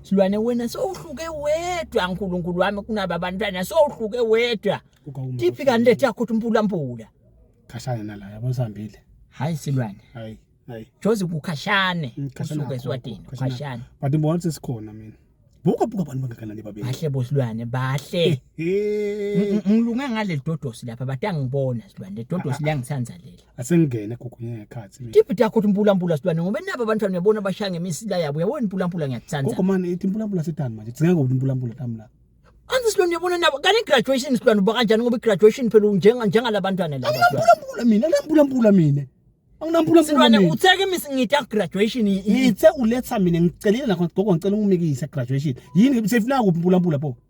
silwane wena sowuhluke wedwa nkulunkulu wami kunaba bantwana sowuhluke wedwa tiphi kanti lethi yakho ukuthi umpulampula khashane nala yabo sihambile hayi silwane hayi hayi jozi kukhashane mm, usuke eswatini khashane but ngibona ukuthi sikhona mina buka buka abantu bangakanani babeni bahle bosilwane bahle ngilunge ngale dodosi lapha batangibona silwane dodosi liyangisanzalela asengene gugunye ngekhathi mina Tiphi takho timpulampula sidwane ngoba nabo abantwana uyabona bashaya ngemisila yabo uyabona impulampula ngiyakuthanda gogo mani ithi impulampula sedani manje dzinga ngokuthi impulampula tami la anzi silona uyabona nabo kanti graduation sidwane uba kanjani ngoba graduation phela unjenga njengalabantwana laba sidwane. anginampulampula mina anginampulampula mina anginampulampula silwane mina utheke imisi ngita graduation i- i- ngithe uletha mina ngicelile nakho gogo ngicela ungimikise graduation yini sefuna kuphi impulampula pho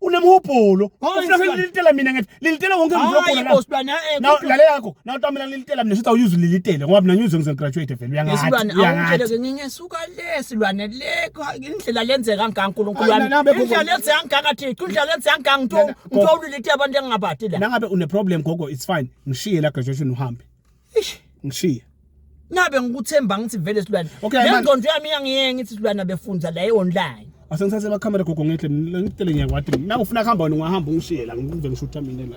unemhubhulo ufuna kulilitela mina ngithi lilitela wonke umuntu ogula la sibana eh, now lale yakho now tamela lilitela mina sithi awuyuzi lilitele ngoba mina ngiyoze ngize graduate vele uyangathi silwane awungitshele ke nginye suka le silwane le indlela lenzeka ngaNkulunkulu wami indlela lenzeka ngakathi indlela lenzeka ngangitho ngitho ulilitela abantu engingabati la nangabe une problem gogo it's fine ngishiye la graduation uhambe ish ngishiya nabe ngikuthemba ngithi vele silwane okay, nengqondo yami iyangiyenga ithi silwane befunza la e-online asengithathe amakhamera gogo ngehle ngitele ngiyakwati nawe ufuna kuhamba wena ungahamba ungishiye la ngive ngishutha mina la